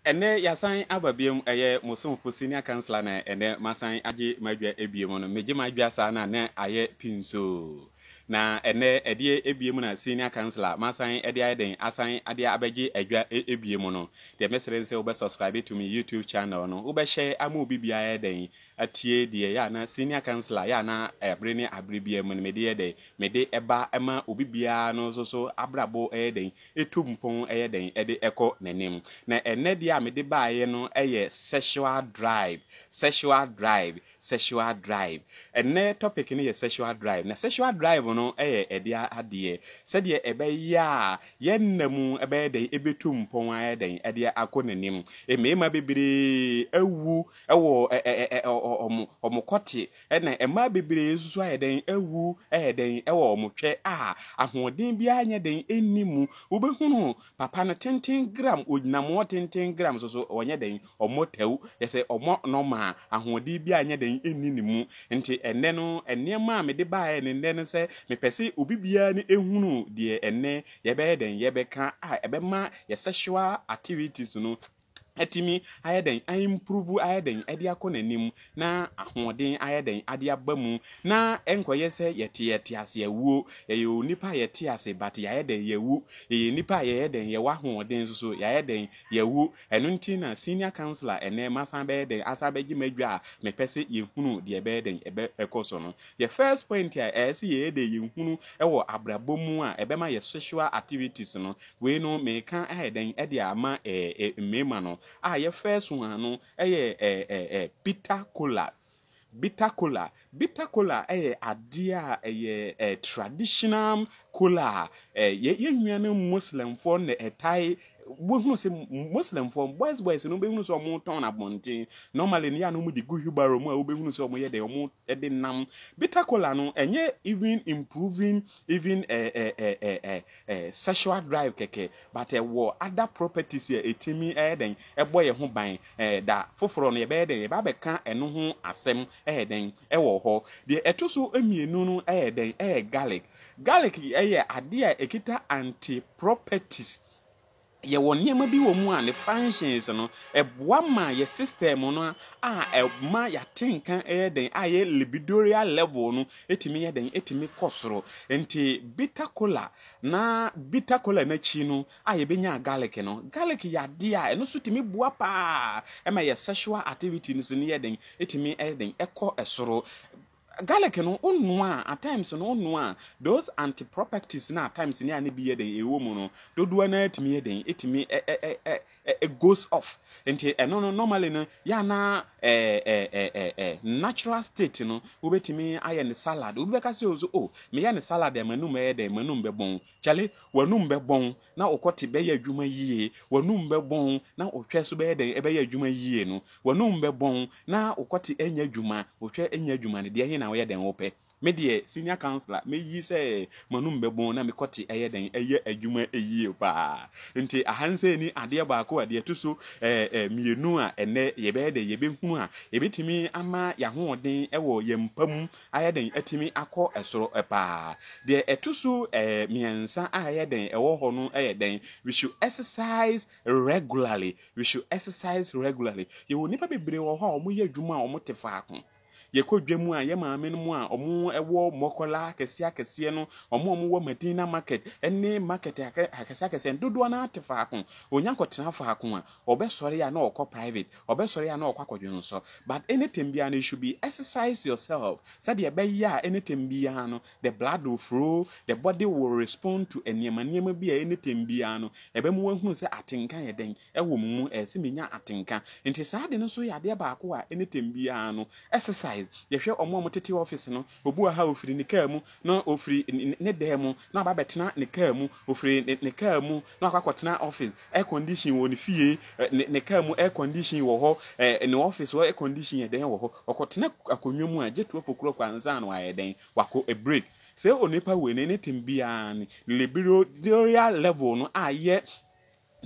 Ɛnnɛ yɛasan aba biom, ɛyɛ mo somfo Senior Councillor na ɛnnɛ masan agye m'adwa biom no, megye m'adwa saa na na ayɛ pinsoo. Na ɛnnɛ ɛdeɛ biom na Senior Councillor masan de ayɛ dɛn asan de abɛgye adwa biom no, deɛ mɛsrɛ ne sɛ wobɛ subscribe to me YouTube channel no, wobɛhyɛ ama obi biara ayɛ dɛn atie deɛ ɛyɛ a na senior councillor yɛ a na bere ne abere biara mu no mede yɛ dɛn, mede ba ma obi biara no nso so abrabɔ yɛ dɛn, ɛtu mpɔn yɛ dɛn de kɔ n'anim. Na ɛnnɛ deɛ a mede baeɛ no yɛ sexual drive, sexual drive, sexual drive. Ɛnnɛ topic no yɛ sexual drive. Na sexual drive no yɛ ɛdeɛ adeɛ sɛdeɛ ɛbɛyɛ a yɛn nna mu bɛyɛ dɛn, ɛbɛtu mpɔn ayɛ dɛn de akɔ n'anim. Mmarima bebree awu Ɛwɔ ɛ ɛ ɛ ɛ ɔ ɔ wɔn wɔn kɔte ɛna mmaa bebree nso so ayɛ dɛn awu ɛyɛ dɛn ɛwɔ wɔn twɛ a ahoɔden biara nyɛ dɛn nni mu wobɛhunu papa no tenten gram ɔgyinam wɔn tenten gram so so wɔnyɛ dɛn wɔn tɛw yɛ sɛ wɔn nɔma a ahoɔden biara nyɛ dɛn nni ne mu nti ɛnɛ no nneɛma a mede baeɛ ne nnɛ no sɛ mepɛ sɛ obi biara ne ɛhunu deɛ ɛnɛ yɛbɛyɛ dɛn yɛbɛka a ɛbɛma yɛ sexual activities no atumi ayɛ dɛn aimprove ayɛ dɛn ade akɔ n'anim na ahoɔden ayɛ dɛn ade aba mu na ɛnkɔyɛ sɛ yɛte yɛte ase awuo yɛyɛ onipa a yɛte ase but yɛayɛ dɛn yɛwu yɛyɛ nipa a yɛyɛ dɛn yɛwɔ ahoɔden nso so yɛayɛ dɛn yɛwu ɛno nti na senior counselor ɛnɛ masan bɛyɛ dɛn asan bɛgye m'adwa a mepɛ sɛ yɛhunu deɛ ɛbɛyɛ dɛn ɛbɛ ɛkɔ so no the first point a ɛyɛ sɛ yɛyɛ dɛn yɛhunu ɛwɔ abrabɔ mu a ɛbɛma yɛ sexual activities no Wei no meka ayɛ dɛn de ama eh eh mmarima no a yɛ first one no yɛ eh eh eh bitter cola. Bitter cola, bitter cola yɛ adeɛ a ɛyɛ eh traditional cola a eh yɛ yɛ nuanom Muslimfoɔ na ɛtae wohunu sɛ Muslimfoɔ boys boys no wobɛhunu sɛ wɔtɔn no abɔnten normally no yɛ a na wɔde gu wheelbarrow mu a wobɛhunu sɛ wɔyɛ dɛ wɔde nam. Bitter cola no ɛnyɛ even improving even eh eh eh eh eh eh sexual drive kɛkɛ but ɛwɔ other properties a ɛtumi ɛyɛ dɛn ɛbɔ yɛ ho ban eh da foforɔ no yɛbɛyɛ dɛn yɛba bɛka ɛno ho asɛm ɛyɛ dɛn ɛwɔ hɔ deɛ ɛto so mmienu no ɛyɛ dɛn ɛyɛ garlic garlic ɛyɛ adeɛ a ɛkita anti properties Yɛwɔ nneɛma bi wɔ mu a ne functions no, ɛboa ma yɛ system no a ɛma yɛate nka yɛ dɛn, a yɛ libidoreal level no tumi yɛ dɛn, tumi kɔ soro. Nti bitter kola na bitter kola no akyi no a yɛbɛnya garlic no, garlic yɛ adeɛ a ɛno nso tumi boa pa ara ma yɛ sexual activities no yɛ dɛn, tumi yɛ dɛn, kɔ soro. Garlic no wo noa a at times no wo noa a those anti properties no at times no a ne bi yɛ dɛn ɛwɔ mu no dodoɔ naa tumi yɛ dɛn ɛtumi ɛ ɛ ɛ ɛ ɛ goes off nti ɛno no normally no yɛ anaa ɛ ɛ ɛ ɛ ɛ natural state no wobɛtumi ayɛ ne salad obi bɛka sɛ o so o meyɛ ne salad a manum bɛyɛ dɛn manum bɛbɔn kyale wanum bɛbɔn na wo kɔte bɛyɛ adwuma yie, w'anum bɛbɔn, na wo hwɛ nso bɛyɛ dɛn? Ɛbɛyɛ adwuma yie no. W'anum bɛbɔn, na wo kɔte anya adwuma, wo hwɛ anya adwuma no. Deɛ he na woyɛ dɛn wopɛ? Me deɛ, senior councillor, mɛyi sɛ m'anum bɛbɔn na me kɔte ɛyɛ dɛn? Ɛyɛ adwuma yie paa. Nti aha no sɛ ni adeɛ baako a, deɛ ɛto so mmienu a ɛnnɛ yɛbɛyɛ dɛn? Yɛbɛhunu a ɛbɛtumi ama yɛn ahoɔden wɔ yɛn mpa mu ayɛ den atumi akɔ soro paa. Deɛ ɛto so mmiɛnsa a ɛyɛ den ɛwɔ hɔ no yɛ dɛn? We should exercise regularly, we should exercise regularly. Yɛwɔ nnipa bebree wɔ hɔ a wɔyɛ adwuma a wɔte faako. Yɛkɔ dwa mu a, yɛ maame no mu a wɔwɔ mmɔkɔla akɛseɛ akɛseɛ no, wɔn a wɔwɔ Madina market ne market akɛseɛ akɛseɛ no, dodoɔ no ara te faako. Wɔnya kɔtena faako a, wɔbɛsɔre a na wɔkɔ private. ɔbɛsɔre a na ɔkɔ akɔdwonsɔ but anytime biara no you should be exercise yourself sɛdeɛ ɛbɛyɛ a anytime biara no the blood will flow the body will respond to nneɛma nneɛma bi a anytime biara no ɛbɛma wahunu sɛ atenka yɛ dɛn ɛwɔ mo mu ɛsɛ menya atenka nti saa ade no nso yɛ adeɛ baako a anytime biara no exercise yɛhwɛ ɔmo a ɔmo tete office no obi wɔ ha ofiri ne kaa mu na ofiri ne dan mu na ɔba bɛtena ne kaa mu Ɔfiri ne ne car mu na wakɔ akɔtena office air condition wɔ ne fie eh, ne ne car mu air condition wɔ hɔ eh, ne office hɔ air condition yɛ dɛn wɔ hɔ ɔkɔtena akonnwa mu a gye twelve o'clock ansa na wayɛ dɛn wakɔ a break sɛ onipa wei ne ne tem biara ne ne libidinal level no ayɛ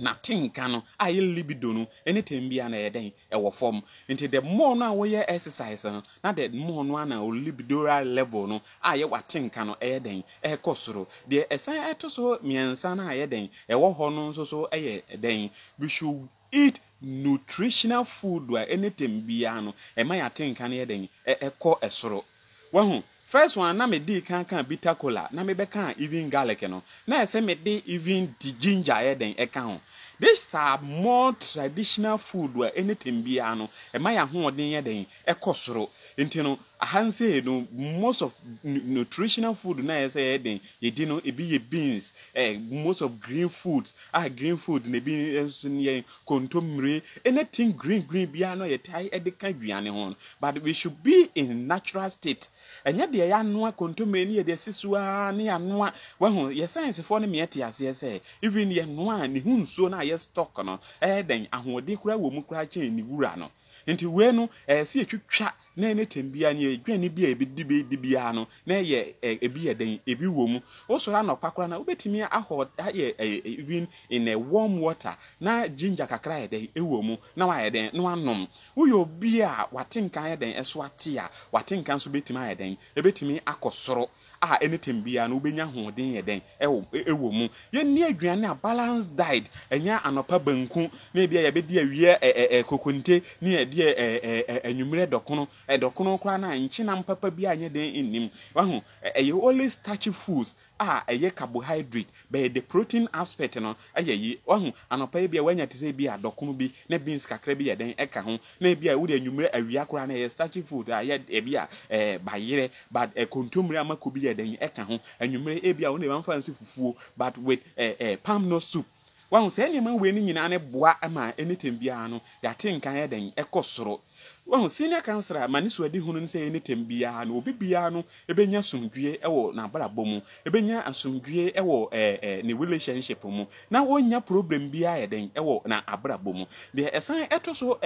N'atenka no a ɛyɛ libido no ne tɛm biara no ɛyɛ dɛn? Ɛwɔ fam. Nti the more no a woyɛ exercise no na the more no ara na wo libidoral level no a ɛyɛ w'atenka no ɛyɛ dɛn? Ɛkɔ soro. Deɛ ɛsan ɛto so mmiɛnsa no a ɛyɛ dɛn? Ɛwɔ hɔ no nso so yɛ dɛn? We should eat nutritional food a ɛne tɛm biara no ɛma yɛn atenka no yɛ dɛn? Ɛkɔ soro. Wahu? First one na me dii kan kaa bitter cola na me bɛ kaa even garlic no, na ayɛ sɛ me de even di ginger ayɛ dɛn ɛka ho. This are more traditional food a anything biara no ɛma y'ahoɔden yɛ dɛn ɛkɔ soro. Nti no aha nsei no most of nutritional food no a ɛyɛ sɛ yɛyɛ dɛn yɛdi no ebi yɛ beans, eh, most of green foods, ah green food na ebi nso yɛn kontommire ne tin green green biara no a yɛtae de ka aduane ho no but we should be in natural state ɛnyɛ deɛ yɛanoa kontommire ne yɛde asi so ara ne yɛanoa wahu yɛ sciencefoɔ no meɛ te aseɛ sɛ even yɛnoa a ne ho nsuo no a yɛ stock no ɛyɛ dɛn ahoɔden koraa wɔ mu koraa kyɛn ne wura no nti wei no ɛyɛ sɛ yɛtwitwa Na ɛne tɛnbea ne aduane bi a yɛbɛdi bi di biara no, na ɛyɛ ɛ, ebi yɛ dɛn? Ebi wɔ mu. Wosɔre anɔpa koraa na wobɛtumi ahɔ, ayɛ ɛ, even in a warm water, na ginger kakra ayɛ dɛn? Ɛwɔ mu, na wayɛ dɛn? Na wanom. Woyɛ obi a w'atenka ayɛ dɛn? Ɛso ate a, w'atenka nso bɛtumi ayɛ dɛn? Ɛbɛtumi akɔ soro. a ɛne tɛm biara no wobɛnya ahoɔden yɛ dɛn wɔ mu. Yɛnni aduane a balanced diet, ɛnyɛ anɔpa banku na ebia yɛbɛdi awia kokonte ne yɛadi anwummerɛ dɔkono. Dɔkono koraa no a nkyenam papa biara nyɛ dɛn nnim. Wahu? Ɛyɛ only starchy foods a ɛyɛ carbohydrate, but the protein aspect no Ayɛ yie. Wahu? Anɔpa yi bi a wanya te sɛ ebi a dɔkono bi na beans kakra bi yɛ dɛn ɛka ho na ebi a wode anwumerɛ awia koraa na ɛyɛ starchy food a yɛ ebi a ɛɛ bayerɛ but ɛ kontommire a mako bi yɛ dɛn ɛka ho anwumerɛ ebi a wo ne ba mfa nsi fufuo but with ɛ ɛ palm nut soup. Wahu? Saa nneɛma wei no nyinaa no boa ma anything biara no yɛate nka yɛ dɛn ɛkɔ soro. Wahu, senior councillor ama ne suadihunu ne sɛ ɛne tɛm biara no obi biara no bɛnya asomdwoeɛ wɔ n'abrabɔ mu, bɛnya asomdwoeɛ wɔ ne relationship mu, na ɔnnya problem biara yɛ dɛn wɔ n'abrabɔ mu. Deɛ ɛsan ɛtɔ so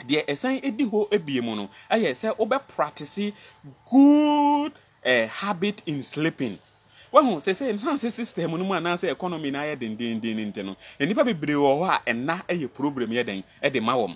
deɛ ɛsan ɛdi hɔ bio mu no yɛ sɛ wobɛ practice good A habit in sleeping. Wahu, seesei ɛnam sɛ system no mu anaasɛ economy no ayɛ dendeenden nti no, nnipa bebree wɔ hɔ a nna yɛ problem yɛ dɛn de ma wɔn.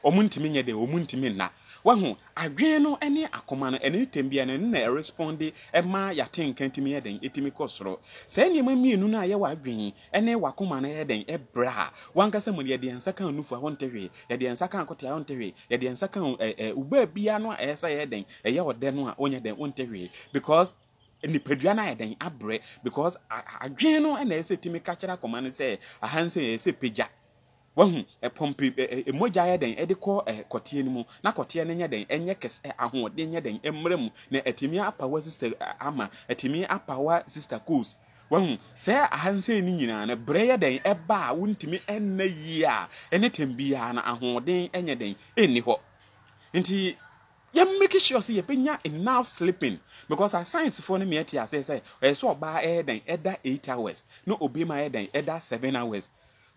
Wɔntumi nyɛ dɛn, wɔntumi nna. Wahu, adwene no ne akoma no, ɛne tɛm biara no, ɛno na ɛresponde ma yɛatenka tumi yɛ dɛn, tumi kɔ soro. Saa nneɛma mmienu no a ɛyɛ w'adwene, Ɛnne w'akoma na ɛyɛ dɛn bere a w'ankasa mu no yɛde yɛn nsa ka nufu a wonte hwee, yɛde yɛn nsa ka akote a wonte hwee, yɛde yɛn nsa ka wo baabi a no a ɛyɛ sɛ ɛyɛ dɛn ɛyɛ ɔdɛ no a wonyɛ dɛn wonte hwee because nipadua no ayɛ dɛn abrɛ because adwene no na ɛyɛ sɛ ɛtumi ka kyerɛ akoma no sɛ aha nsɛ ɛyɛ sɛ pagya Wahu? Ɛpɔmpe ɛ, mogya yɛ dɛn de kɔ ɛ, kɔteɛ no mu, na kɔteɛ no nyɛ dɛn, ɛnyɛ kɛse ɛ, ahoɔden nyɛ dɛn, ɛmmra mu, na atumi apa wa sista ɛ, Alma, atumi apa wa sista Coles. Wahu? Sɛɛ ahansei no nyinaa no, berɛ yɛ dɛn ɛba a wontumi nna yie a, ɛne tɛm biara no, ahoɔden nyɛ dɛn, ɛnni hɔ. Nti yɛ make sure sɛ yɛbɛnya enough sleeping, because asayensifoɔ no meɛ te aseɛ sɛ, ɛyɛ sɛ ɔbaa ɛyɛ dɛn ɛda eight hours, na obɛma yɛ dɛn ɛda seven hours.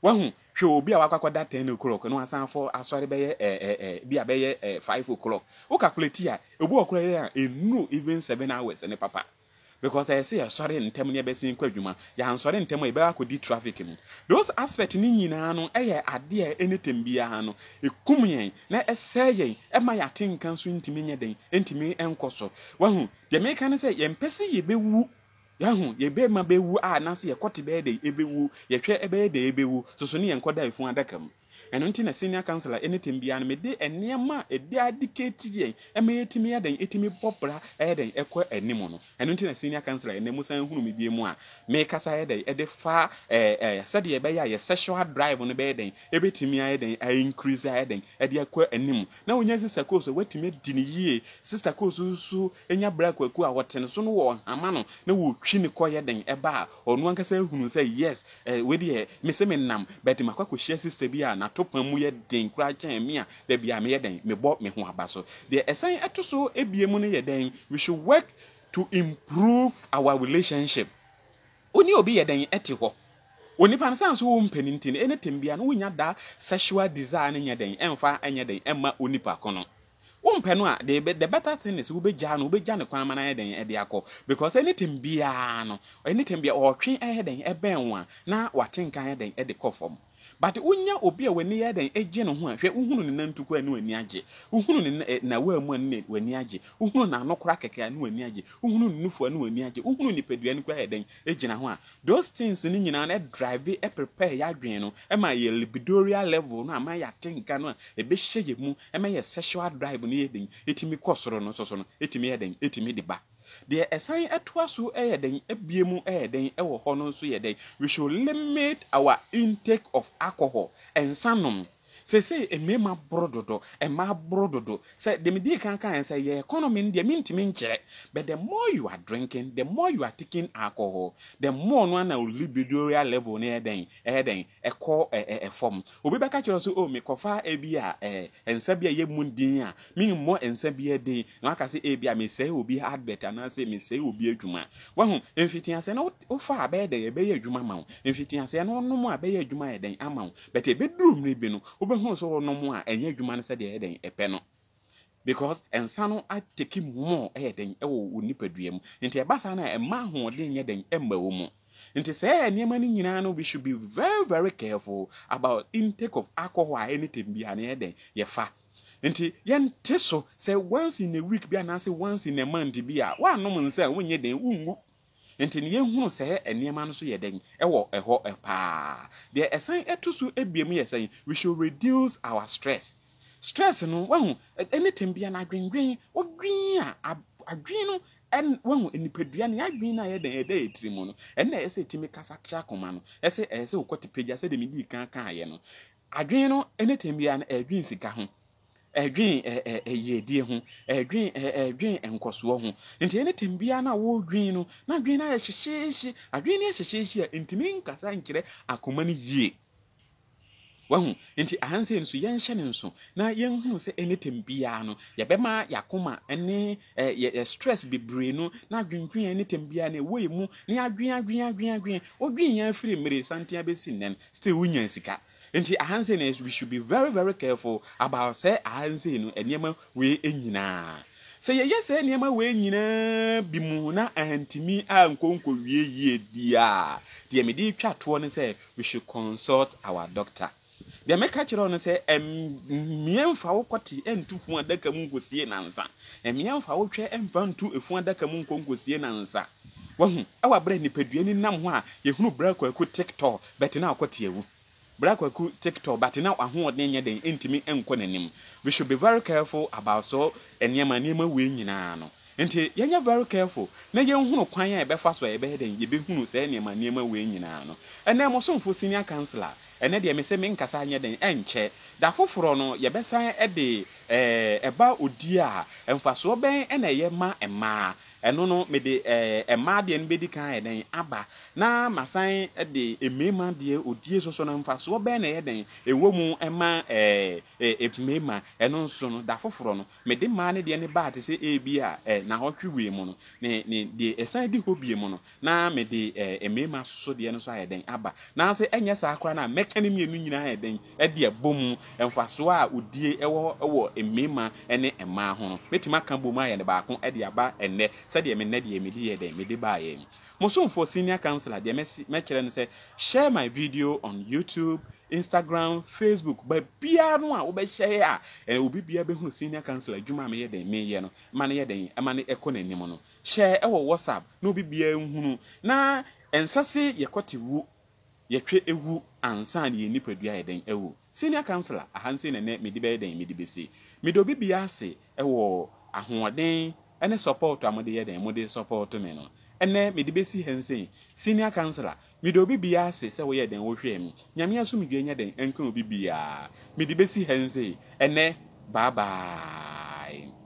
Wahu, hwɛ obi a wakɔ akɔda ten o'clock na wasan afɔ asɔre bɛyɛ eh eh eh bi a bɛyɛ eh five o'clock. Wo calculate a, obi wɔ koraa a ɛnnuru even seven hours ne papa. Because ɛyɛ sɛ yɛsɔre ntɛm na yɛbɛsen kɔ adwuma. Yɛansɔre ntɛm a yɛbɛkɔ akɔdi traffic mu. Those aspects no nyinaa no yɛ adeɛ a anytime biara no ɛkum yɛn na ɛsɛe yɛn, ɛma yɛn atenka nso ntumi nyɛ dɛn, ɛntumi nkɔ so. Wahu, deɛ meka ne sɛ yɛmpɛ sɛ yɛbɛwu. Yɛahu, yɛbɛ ma bɛwu a anaasɛ yɛkɔte bɛyɛ dɛ yɛbɛwu, yɛhwɛ ɛbɛyɛ dɛ yɛbɛwu, soso ne yɛnkɔ da ɛfunu adaka mu. Ɛno nti na Senior Counselor ɛne tɛm biara no mede nneɛma a ɛde adikɛti yɛn ɛma yɛtumi yɛ dɛn ɛtumi bɔ bra ɛyɛ dɛn ɛkɔ anim no. Ɛno nti na Senior Counselor ɛnɛ mo san hunu me bio mu a mekasa ɛyɛ dɛn ɛde fa ɛɛ ɛɛ sɛdeɛ ɛbɛyɛ a yɛ sexual drive no bɛyɛ dɛn ɛbɛtumi ayɛ dɛn a increase ayɛ dɛn ɛde akɔ anim. Na wo nya Sister Kooso, woatumi adi no yie, Sister Kooso nso, nya bere a kwaku a ɔte no so no wɔ hama no na wɔtwi no kɔ yɛ den ba a, ɔno ankasa hunu sɛ yes, eh, wei deɛ me se me nam but makɔ akɔhyia sister bi a n'atopam mu yɛ den koraa kyɛn me a da biara meyɛ dɛn, mebɔ me ho aba so. Deɛ ɛsan ɛto so abiem no yɛ dɛn, we should work to improve our relationship. Wo ne obi yɛ dɛn te hɔ, onipa no sane so wo mpɛ no nti no, anything biara no wonya da sexual desire no nyɛ dɛn ɛmfa nyɛ dɛn ɛmma onipa ko no. Wompɛ no a, the the better thing is wobɛgyaa no, wobɛgya ne kwan ma no ayɛ dɛn ɛde akɔ because anything biara no, anything biara ɔretwe ɛyɛ dɛn ɛbɛn wo a, na wate nka ayɛ dɛn ɛde kɔ fam. But wonya obi a w'ani yɛ dɛn ɛgye ne ho a, hwɛ wohunu ne nantuko a ne w'ani agye, wohunu ne na nawaa mu a ne w'ani agye, wohunu n'ano koraa kɛkɛ a ne w'ani agye, wohunu ne nufu a ne w'ani agye, wohunu nipadua no koraa yɛ dɛn ɛgyina ho a, Those things no nyinaa na ɛdrive, ɛprepare y'adwene no ma yɛ libidoria level no a ma y'ate nka no a ɛbɛhyɛ yɛ mu ma yɛ sexual drive no yɛ den ɛtumi kɔ soro no nso so no ɛtumi yɛ dɛn ɛtumi de ba. Deɛ ɛsan ɛtoa so yɛ dɛn ɛbue mu yɛ dɛn ɛwɔ hɔ no nso yɛ dɛn we should limit our intake of alcohol, nsa nom. Seesei mmarima boro dodo, mmaa boro dodo. Sɛ deɛ medii kan kaeɛ no, sɛ ɛyɛ economy no deɛ mentumi nkyerɛ but the more you are drinking, the more you are taking alcohol, the more no ara na wo libidoreal level no yɛ dɛn, ɛyɛ dɛn, ɛkɔ fam. Obi bɛka kyerɛ wo sɛ oh mekɔfa ebia nsa bi a ɛyɛ mu den a, memmɔ nsa biara din. na waka sɛ ebia mesɛe obi advert anaasɛ mesɛe obi adwuma. Wahu, mfitiaseɛ no wofa a bɛyɛ dɛn ɛbɛyɛ adwuma ma wo. Mfitiaseɛ no wonom a ɛbɛyɛ adwuma ayɛ dɛn ama wo. But ɛbɛduru mmere bi no, wobɛhunu sɛ wonom a ɛnyɛ adwuma no sɛdeɛ ɛyɛ dɛn ɛpɛ no. Because nsa no atake mu more ɛyɛ dɛn ɛwɔ wo nipadua mu. Nti ɛba saa no a ɛmma ahoɔden nyɛ dɛn ɛmma wo mu. Nti sɛ nneɛma no nyinaa no we should be very very careful about intake of alcohol a anytime biara no yɛyɛ dɛn yɛfa. Nti yɛnte so sɛ once in a week bi anaasɛ once in a month bi a woannom nsa a wonyɛ dɛn wongu. Nti no yɛnhunu sɛ nneɛma no so yɛ dɛn wɔ hɔ paa. Deɛ ɛsan to so abiem yɛ sɛn? We should reduce our stress. Stress no wahu anything biara no adwendwen wodwen a adwen no wahu nipadua no yɛadwen no a yɛ dɛn ɛda yɛ tiri mu no ɛna ɛyɛ sɛ ɛtumi kasa kyerɛ akoma no ɛsɛ ɛyɛ sɛ wokɔte pagya sɛdeɛ medii kan kaeɛ no Adwene no ne tɛm biara no ɛredwen sika ho, ɛredwen yiedie ho, ɛredwen ɛredwen nkɔsoɔ ho. Nti ɛne tɛm biara no a wɔredwen no, na adwene no ayɛ hyehyeehye. Adwene no yɛ hyehyeehye a, ɛntumi nkasa nkyerɛ akoma no yie. Wahu? Nti ahansei no so yɛnhyɛ no nso na yɛnhunu sɛ ɛne tɛm biara no, yɛbɛma yɛakoma ne Ɛ yɛ yɛ stress bebree no n'adwendwen a anytime biara no ɛwɔ yɛ mu na yɛadwen adwen adwen adwen wodwen yɛn firi mmere santen abɛsi nnɛn still wo nya sika nti aha nsei no we should be very very careful about sɛ aha nsei no nneɛma wei nyinaa sɛ yɛyɛ sɛ nneɛma wei nyinaa bi mu na antimi a nkonko wie yie di a deɛ mede twa toɔ no sɛ we should consult our doctor. Deɛ meka kyerɛ wo no sɛ, mmea mfa wo kɔte nto funu adaka mu nkɔsie nnansa. Mmea mfa wo twɛ mfa nto funu adaka mu nkɔ nkɔsie nnansa. Wahu? Wɔ berɛ a nipadua ani nam hɔ a, yɛhunu Bra Kwaku Tiktɔɔ, but na ɔkɔ te awu. Bra Kwaku Tiktɔɔ, but na w'ahoɔden nyɛ den, ɛntumi nkɔ n'anim. We should be very careful about so nneɛma, nneɛma wei nyinaa no. Nti yɛnyɛ very careful na yɛnhunu kwan a yɛbɛfa so a yɛbɛyɛ dɛn yɛbɛhunu saa nneɛma nneɛma wei nyinaa no. Ɛnnɛ mo somfo senior councilor, ɛnnɛ deɛ mese menkasa nyɛ dɛn ɛnkyɛ, da foforɔ no yɛbɛsan de ɛɛ ɛba odie a mfasoɔ bɛn na ɛyɛ ma mmaa, ɛno no mede ɛɛ mmaa deɛ no bɛdi kan ayɛ dɛn aba na masan de mmarima deɛ odie soso no mfasoɔ bɛn na ɛyɛ dɛn ɛwɔ mu ma ɛɛ ɛɛ mmarima, ɛno nso no da foforɔ no Mede maa no deɛ no baa te sɛ ebia eh, nahɔtwe wei mu no, ne, ne, deɛ ɛsan di hɔ bio mu no, na mede eh, mmarima asoso deɛ no nso ayɛ dɛn aba. Nanso ɛnyɛ saa koraa no a, mɛka ne mmienu nyinaa ayɛ dɛn de abɔ mu. Mfasoɔ a odie wɔ wɔ mmarima ne mmaa ho no, mɛtumi aka abɔ mu ayɛ no baako de aba ɛnnɛ, sɛdeɛ me nnɛ deɛ mede yɛɛ dɛn, mede baeɛ. Mo somfoɔ Senior Councillor, deɛ mɛse, mɛkyerɛ no sɛ, share my video on YouTube, Instagram, Facebook, baabiara no a wobɛhyɛe a eh, obi biara bɛhunu senior council adwuma a meyɛ dɛn meyɛ no, ɛma no yɛ dɛn, ɛma no ɛkɔ n'anim no. Hyɛe wɔ WhatsApp na obi biara nhunu. Na ɛnsɛ se yɛkɔte wu, yɛtwe wu ansa na yɛn nipadua ayɛ dɛn awu. Senior councilor, ahansei na ɛnɛ mede bɛyɛ dɛn, mede bɛsi. Meda obi biara ase Ɛwɔ ahoɔden ɛne support a mode yɛ dɛn mode support me no. Ɛnɛ mede bɛsi ha nsei, senior councillor, mede obi bia ase sɛ woyɛ dɛn wohwɛɛ me. Nyame asomdwoeɛ nyɛ dɛn ɛnka obi biaa. Mede bɛsi ha nsei, ɛnɛ bye bye.